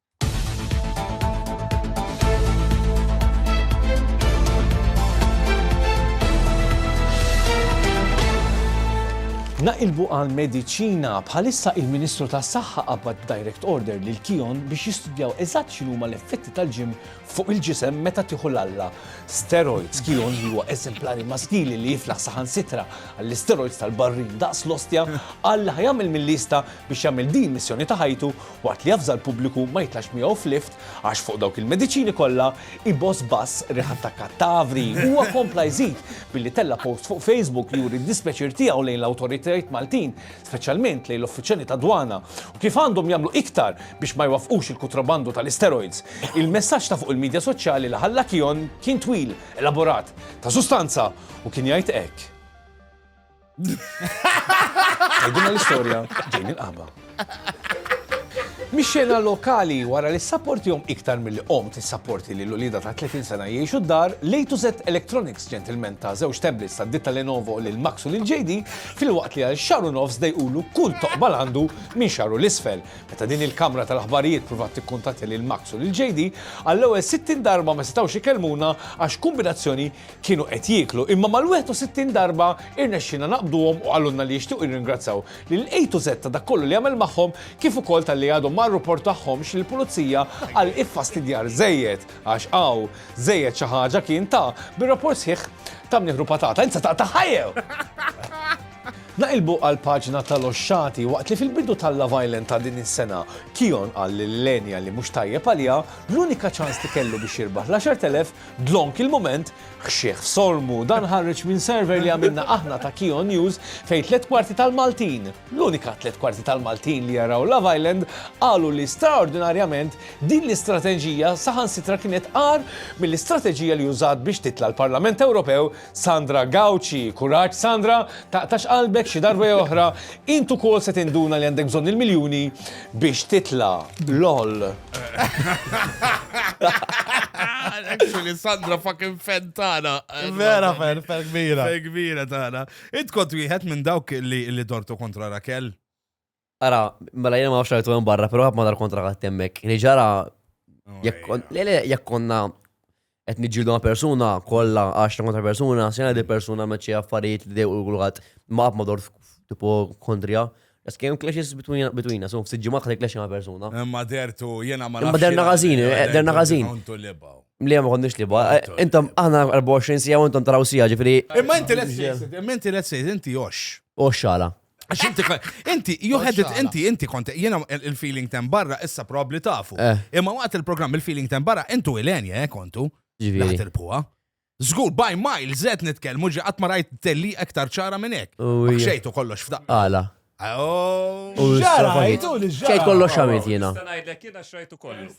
Naqilbu għal mediċina bħalissa il-Ministru tas-Saħħa qabad direct order lil Kion biex jistudjaw eżatt x'inhuma l-effetti tal-ġim fuq il-ġisem meta tieħu l-alla. Steroids Kion li huwa eżemplari maskili li jiflaħ saħan sitra għall-isteroids tal-barrin daqs l-ostja għal ħajamil mill-lista biex jagħmel din missjoni ta' ħajtu waqt li javża l-pubbliku ma jitlax miegħu f'lift għax fuq dawk il-mediċini kollha jboss bass riħa ta' kattavri. Huwa kompla jżid billi tella' post fuq Facebook li juri d-dispjaċir tiegħu lejn l-awtoritajiet Maltin, speċjalment lejn l-uffiċjali tad-dwana, u kif għandhom jagħmlu iktar biex ma jwaffqux il-kutrabandu tal-isteroids. Il-messaġġ ta' fuq il-midja soċjali li ħalla Kion kien twil, elaborat, ta' sustanza u kien jgħid hekk. Għajdina l-istoria ġejn il-qaba. Mixxena lokali wara li jom iktar mill-li om t-sapporti li l-ulida ta' 30 sena jiexu d-dar, lejtu zet Electronics ġentilmen ta' zewġ tablets ta' ditta Lenovo lil Max u lil JD fil-waqt li għal xaru nofs dejqulu kull toqba għandu minn xaru l-isfel. Meta din il-kamra tal-aħbarijiet provat tikkuntatja lil Max u lil JD, għall-ewwel 60 darba ma setgħux ikellmuna għax kombinazzjoni kienu qed jieklu, imma mal-61 darba irnexxielna naqbduhom u qalulna li jixtiequ jirringrazzaw lil A to Z ta' dak kollu li għamel magħhom kif ukoll talli għadhom ma rruportahomx lill-pulizija għal iffastidjar żejjed għax hawn żejjed xi ħaġa kien ta' bir-rapport sħiħ ta' mnieħ ru patata insa taqta' ħajjew! Naqilbu għall-paġna tal-oxxati waqt li fil-bidu tal-Love Island ta' din is-sena Kion qal lil Lenia li mhux tajjeb għaliha, l-unika ċans li kellu biex jirbaħ l-10,000 Dlonk il-mument, ħxieħ f'solmu, dan ħareġ minn survey li għamilna aħna ta' Key on News fejn tliet kwarti tal-Maltin, l-unika tliet kwarti tal-Maltin li jaraw Love Island, qalu li straordinarjament din l-istrateġija saħansitra kienet agħar mill-istrateġija li użat biex titla' l-Parlament Ewropew Sandra Gauci, Kuraġġ Sandra, taqtax qalbek xi darba jew oħra, int ukoll se tinduna li għandek bżonn il-miljuni biex titla'. Loll. Actually, Sandra fucking fan tagħna. Vera fan, fan kbira. Fan kbira tagħna. Int kont wieħed minn dawk li dortu kontra Rakel? Ara, mela jena ma nafx rajtu hemm barra, però ma dal-kontra għat hemmhekk. Li ġara jekk kon- le le jekk konna qed niġġieldu ma' persuna kollha 10 kontra persuna, sena di persuna għamlet xi affarijiet li dejqu kulħadd ma qatt ma dort tipo kontrija. Just kemm clashes between between us, u ftit ġimgħat ħadd clash ma' persuna. Imma dertu, jena ma Imma nafx derna jena- ħażin, jena eh, derna kontu- ħażin. kontu libaw. Li ma konniex li ba. Kontu, Intom kontu. aħna 24 sija u intom taraw sija, ġifieri Imma inti let's face it, imma inti let's face it, inti jox. u xala. Għax inti, inti, you had it, inti, inti konti, jena il-feeling ten barra issa probabli tafu. Eh. Imma waqt il-program il-feeling ten barra, intu il-enja, eh, kontu. Ġviri. il-puwa. Zgur, by mile, zed nitkelmu ġi għatma rajt telli aktar ċara minnek. Xejtu kollox f'daq. Għala. Ġara, għajtu li ġara. Xejt kollox xamit jena. Stanajlek jena xajtu kollox.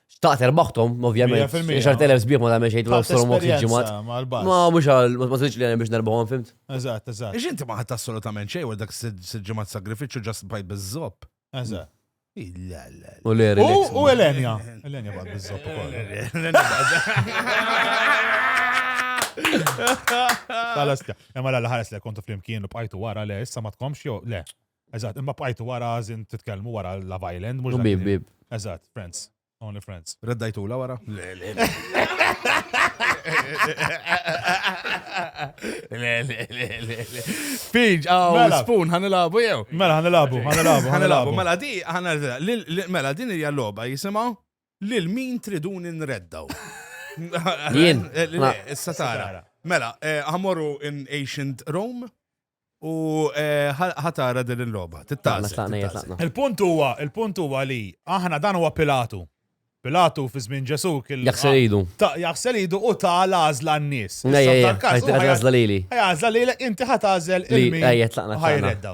Xtaqt erbaħtom, ovvjament. 100%. 10,000 sbieħ ma tagħmel xejn Ħadd l-Ostor Mox esperjenza ġimat. mal-bus. Ma mhux għal ma tridx li għan biex nerbħom fimt. Eżatt, eżatt, Ix inti ma ħadd assolutament xejn wara dak sitt ġimgħat sagrifiċċju ġast bajt biż-żopp. eżatt. La la U le U relax. u Elenja. Elenja bad biżżopp ukoll. Ħalas le. Imma la ħares le kontu flimkien u bqajtu wara le, issa ma tkomx jew le. Eżatt, imma bqajtu wara żin titkellmu wara Love Island, mhux. Bib, bib. Eżatt, Friends. Only Friends. Reddajtu la wara? Le, le. Le, le, le, le, le. Fiġ, għaw, Mela. spoon, ħanilabu jew. Mela, ħanilabu, ħanilabu, ħanilabu. Mela di, ħana mela din hija logħba jisimgħu lil min triduni nreddaw. Jien. Le, Issa tara. Mela, eh, ħamorru in ancient Rome, U ħatara din il-logħba. Tittaqsa. Il-punt huwa, il-punt huwa li aħna dan huwa Pilatu. Pilatu fi żmien Ġesù kien. Jaħsel idu. Jaħsel idu u ta' l-għażla n-nies. Għażla lili. Għażla lilek inti ħat għażel il-min. Ħajredda.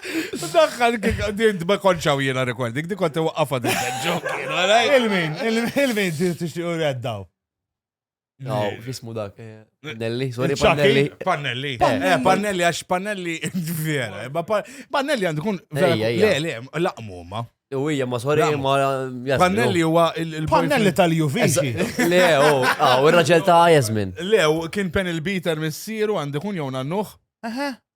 Daħħal dint ma konċaw jena rekord, dik konti waqqafa din ġok. Il-min, il-min tixtiqu reddaw. No, fismu dak. Eh, Pannelli, sorry, Pannelli. Pannelli. Eh, Pannelli, għax Pannelli, vera. Eh, Pannelli għandu kun, vera, le, le, laqmu ma. U hija ma sorry ma Pannelli huwa il Pannelli tal-Juvici. Le, u oh, ah, ir-raġel ta' Jasmin. Le, kien pen il-biter missieru għandu kun jew nannuħ.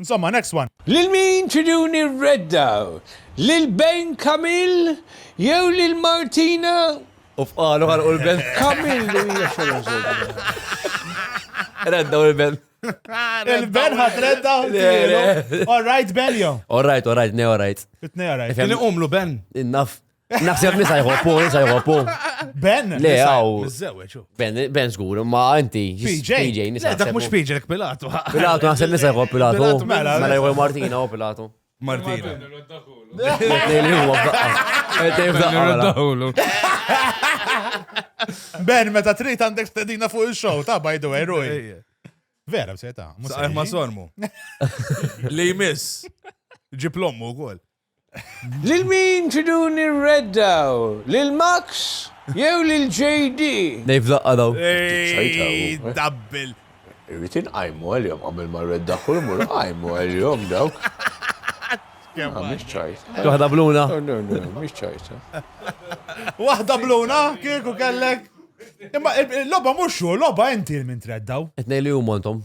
Insomma, next one. Lil min triduni r-redda? Lil Ben Camil jew lil Martina? U fqalu ħalqu l-Ben. Camil li hija xogħol żgħira. Redda u l-Ben. Il-Ben ħat redda u l-Ben. All right, Ben jo. All right, all right, ne all right. Itne all right. Kien iqumlu Ben. Innaf. Naħseb nisa jħobbu, nisa jħobbu. Ben, le, għaw. Ben, ben zgur, ma għanti. PJ, PJ, nisa. Dak mux PJ, dak Pilatu. Pilatu, naħseb nisa jħobb Pilatu. Mela, mela jħobb Martina u oh, Pilatu. Martina. Ben, meta trit għandek stedina fuq il-show, ta' by the way, Rui. Vera, b'seta. Saħħ ma sormu. Li jmiss. Ġiplommu u għol. Lil min tridu nirreddaw? Lil Max jew lil JD? Dave laqqa' dawn. Ejjj dabbel. Irrid inqajmu għalihom qabel ma rreddah u jmur qajmu għalihom dawk. Kemm mhix ċajta. Xi waħda bluna? No no no mhix ċajta. Waħda bluna kieku kellek. Imma l-logħba mhux hu, l-logħba inti min treddaw. It-tnejn li huma intom?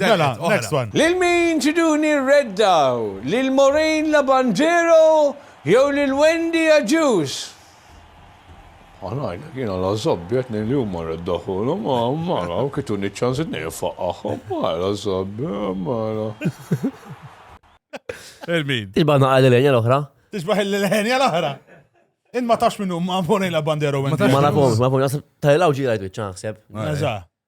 Mela, next one. Lil min triduni rreddaw? Lil Maureen Labandero jew lil Wendy Agius? Ħa ngħidlek, jiena la żobbi qed ngħid li huma rreddawhulhom, mela, kif tuni ċ-ċans qed ngħid ifaqqagħhom, mela żobbi, mela. Lil min? Tixbaħ naqal lil Enja l-oħra. Tixbaħ lil Enja l-oħra. In ma tax minnu ma Maureen Labandero Wendy. Ma nafhomx, ma nafhomx, tal-ilgħu ġi rajt wiċċa naħseb. Eżatt.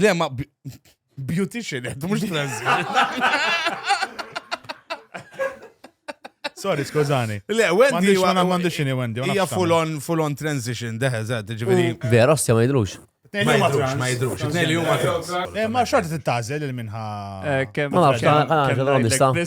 Le, ma beautician, għed, mux Sorry, skużani. Le, Wendy. Ma għan għandu xini Wendy. Ija full on, full on transition, deħe, zed, ġiviri. Vera, ostja ma jidrux. Ma jidrux, ma jidrux. Nejli huma trans. Eh, ma xorti t-tazel il-minħa. Eh, ma nafx, għan għan għan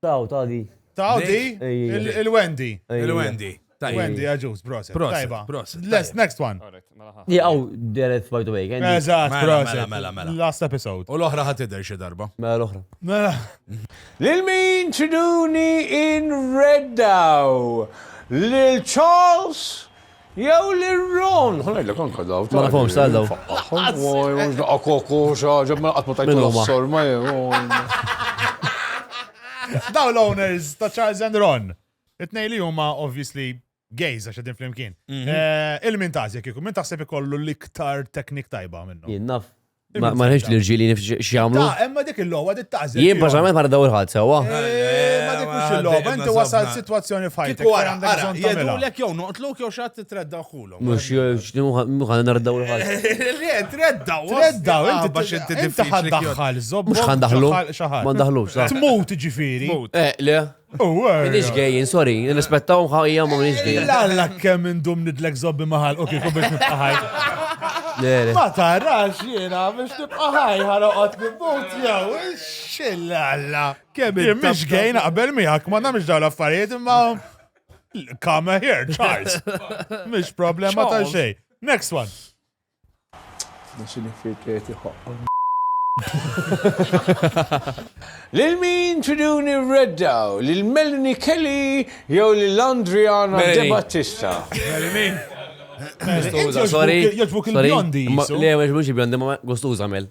Taw, taw di. Taw di? Il-Wendy. Il-Wendy. Wendy, għagġus, proset. Tajba. Proset. Let's, next one. Mela Jgħaw, deret, by the way. Eżat, mela, proset. Mela, mela, mela. Last episode. U l-ohra ħat id xie darba. Mela, l-ohra. Mela. Lil-min ċiduni in reddaw. Lil Charles. Jew lir-Ron! Ħa ngħidlek anke dawn. Ma nafhomx ta' dawn. Lanqas! Oj, mhux daqqa koko, xi ħaġa, imma qatt ma tajthom s-sorma jew, oj. Dawn l-owners ta' Charles and Ron, it-tnejn li huma obviously gays għax qegħdin flimkien. Il-min tagħżi kieku, min taħseb ikollu l-iktar technique tajba minnhom? Jien naf Ma nħiġ li rġili x'jagħmlu. Imma dik il-logħba dik taqżel. Jien personalment ma nadaw il-ħadd sewwa. Eh, ma dik mhux il-logħba, inti wasal sitwazzjoni f'ħajtek. Wara għandek jedulek jew noqtluk jew xatt tredda ħulhom. Mhux ħan nardaw il-ħadd. Le, tredda, tredda, inti bax inti diffiċli. Mhux ħan daħlu. Ma daħlux. Tmut ġifieri. Eh, le. Minix gay, sorry, nirrispettaw ħajja ma minix gay. Lalla kemm indum nidlek zobbi maħal, ok, kum biex nibqaħaj. Ma tarax jena biex nibqaħaj ħaroqot nibut jew, xillalla. Kemm minix gay naqbel miegħek, ma namx daw l-affarijiet imma. Come here, Charles. Mish problema ta' xej. Next one. Lil min tridu nirreddaw, lil Melanie Kelly jew lil Andriana De Battista? Melanie. Gustuża, sorry. Jogħġbok il-bjondi. Le, mhux il-bjondi, ma gustuża Mel.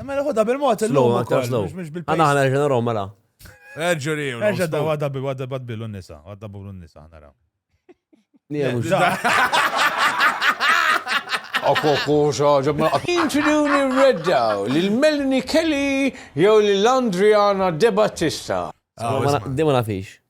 Mela ħodha bil-mod illum ukoll, mhux bil-pace. Għana għana ġena rom mela. Erġuri. Erġa da għadda bi għadda bad billu nisa, għadda billu nisa għana rom. Nijemu ġa. Akku akku xa ġabna. Introduċi reddaw l-Melanie Kelly jew l-Andriana De Battista. Dima nafix.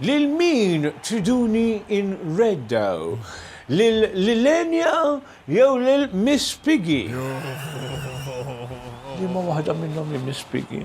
Lil min triduni nreddaw? Lil Lilenja jew lil Miss Piggy? Liema waħda minnhom hi Miss Piggy?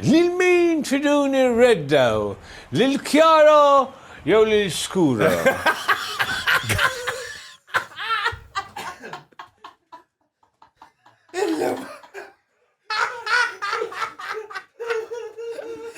Lil min tridu nirreddaw? Lil Chiara jew lil Scuro?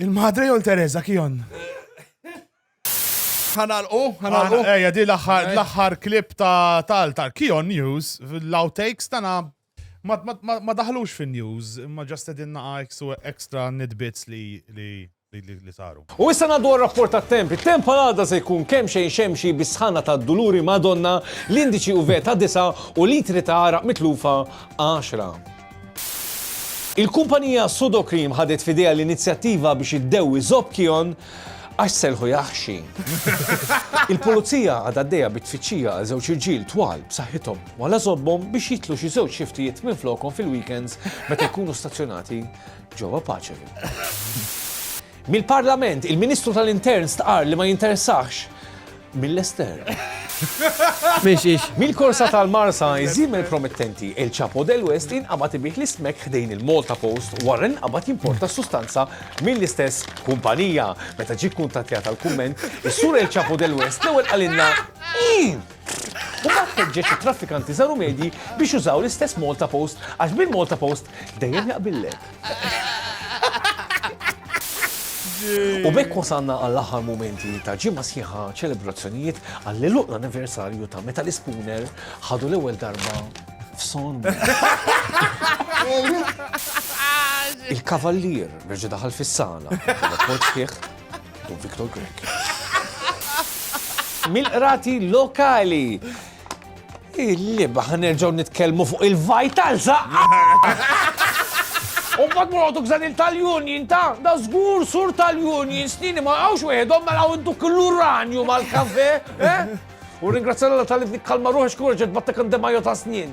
Il-madre jol Teresa kion. Ħanalqu, ħanalqu. Eja, di l-axħar klip ta' tal tal kion news, l-outtakes tana ma daħlux fin news, ma ġast edin naqa extra nidbits li li saru. U issa naddu rapport ta' temp. Il-temp għal-għada se jkun kemm xejn xemxi bisħana ta' duluri madonna, l-indiċi u veta disa u litri ta' għara mitlufa 10. Il-kumpanija Sudocrem ħadet f'idejha l-inizjattiva biex iddewwi Zopp Kion għax selħu jaħxi. Il-Pulizija għadha għaddejja bit-tfittxija għal żewġ irġiel twal b'saħħithom wala żobbhom biex jitlu xi żewġ xiftijiet minflokhom fil-weekends meta jkunu stazzjonati ġewwa Paċevi. Mill-Parlament, il-Ministru tal-Intern stqarr li ma jinteressahx Mill-estern. Mhix hix. Mill-korsa tal-Marsa, iż-żiemel promettenti El Chapo del West inqabad ibih l-ismek ħdejn il-Malta Post wara li nqabad jimporta s-sustanza mill-istess kumpanija. Meta ġie kkuntattjat għal kumment, is-sur El Chapo del West l-ewwel qalilna U mbagħad ħeġġeġ it-traffikanti żaru medji biex jużaw l-istess Malta Post għax bil-Malta Post dejjem jaqbillek. U bekk wasanna għall-aħħar momenti ta' ġimma sħiħa ċelebrazzjonijiet għall luq l-anniversarju ta' meta l-ispooner ħadu l-ewwel darba f'son. Il-kavallier reġa' daħal fis-sala, poċ fih, Don Victor Grek. Mil-qrati lokali Il-liba ħanerġaw nitkellmu fuq il-vital zaqqa. U bat mur għodu gżan il-tal-union ta' da zgur sur tal-union snini ma għawx weħedom ma għaw duk l-uranju mal-kafe. Eh? U ringrazzjala tal-li kalma ruħi xkur ġed battek għandemajju ta' snin.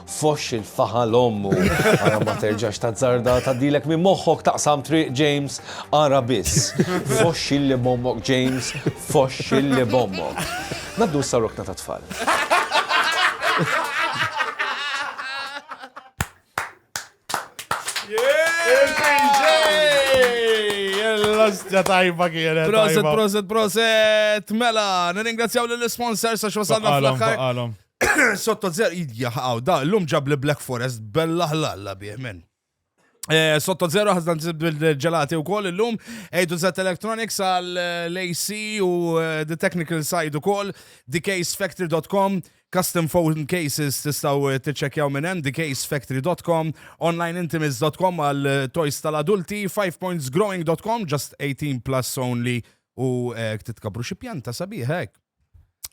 Foxx il-faħa l-ommu. Ara ma terġax tazzarda tgħaddilek minn moħħok taqsam triq James, ara biss. Foxx illi b'ommok James, foxx illi b'ommok. Ngħaddu issa rokna ta' tfal. Ġa tajba kienet. Proset, proset, proset. Mela, nirringrazzjaw l-sponsors għax wasalna fl-aħħar. Sotto zero, jaħaw, da, l-lum ġab li Black Forest, bella ħlalla bieħ minn. Eh, sotto zero ħazna ġelati u koll il-lum, ejdu zet electronics għal-AC eh, u eh, the technical side u koll, thecasefactory.com, custom phone cases tistaw t-ċekjaw minnem, thecasefactory.com, onlineintimates.com għal toys tal-adulti, 5pointsgrowing.com, just 18 plus only u titkabru xie pjanta sabiħek.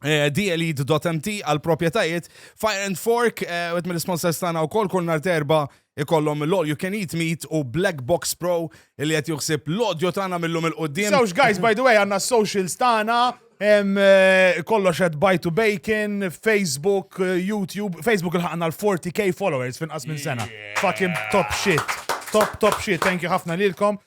Eh, DLED.mt għal propietajiet Fire and Fork, eh, għet mill sponsors tana u kol kull nar terba ikollom l-All You Can Eat Meat u Black Box Pro li għet juħsib l-odjo tana mill-lum il-qoddim. Zawx guys, by the way, għanna socials tana, eh, kollox għed Buy to Bacon, Facebook, YouTube, Facebook il-ħakna l-40k followers fin qas minn sena. Fucking top shit. Top, top shit. Thank you ħafna lilkom.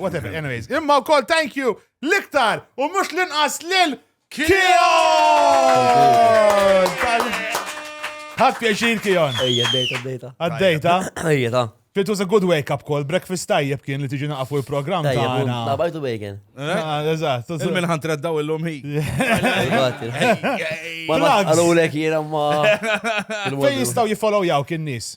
Whatever, anyways. Imma u koll, thank you, liktar, u mux l-inqas lil Kion! Ħad pjaċir Kion. Ejja, dejta, dejta. Għaddejta? Ejja, ta. It was a good wake up call, breakfast tajjeb kien li tiġi naqfu il-program ta' għana. La bajtu bacon. Eh? Ah, eżatt. Il-minħan treddaw il-lum hi. Għallu l-ek jena ma. Fej jistaw jifollow jaw kien nis.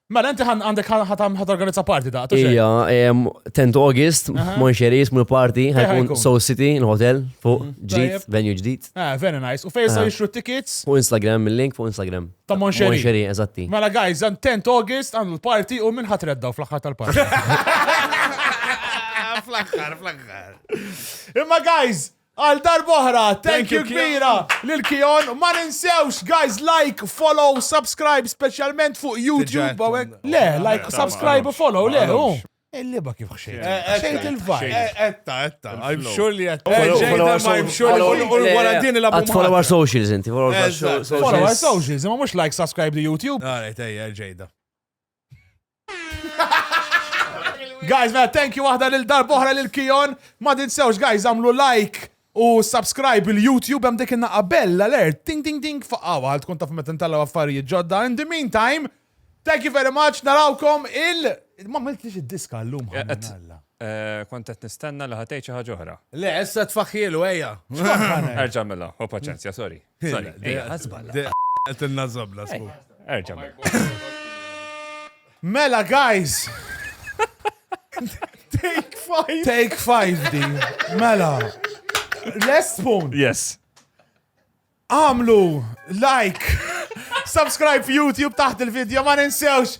Mela, inti għandek ħat organizza party da' Ija, 10 August, Monxeris, mul party, ħajkun Soul City, il-hotel, fuq, mhm. ġdid, venue ġdid. Ah, very nice. U fejsa jixru tickets? Fuq Instagram, il-link fuq Instagram. Ta' Monxeri. Monxeri, eżatti. Mela, guys, 10 August, għandu l-party u minn ħat reddaw fl-axħar tal-party. Fl-axħar, fl-axħar. Imma, guys, Għal darb'oħra, thank you kbira lil Kion. Ma ninsewx, guys, like, follow, subscribe, speċjalment fuq YouTube. Le, like, subscribe u follow, le, u. Il-liba kif xejn. Eh, eh, xejn eh, il-vibe. Etta, etta. I'm sure li etta. I'm sure li l-gwarantini la bumma. Follow our socials inti. Follow our socials. Ma mux like, subscribe to YouTube. Għara, tejja, ġejda. Guys, mela, thank you waħda lil darbohra lil Kion. Ma tinsewx, guys, għamlu like u subscribe il-YouTube hemm dik in-naqa bella alert. Ding ding ding faqawa għal tkun taf meta ntallaw affarijiet ġodda. In the meantime, thank you very much, narawkom il- Ma miltlix id-diska l-lum. Eh, eh, kont qed nistenna li ħatej xi ħaġa oħra. Le, issa tfaħħielu ejja. Erġa' mela, u paċenzja, sorry. Sorry, ejja, għazballa. Għet il-nazzabla, sku. Erġa. Mela, guys! Take five! Take five, di. Mela. Last spoon. Yes. Għamlu, like, subscribe YouTube taħt il-video, ma ninsewx.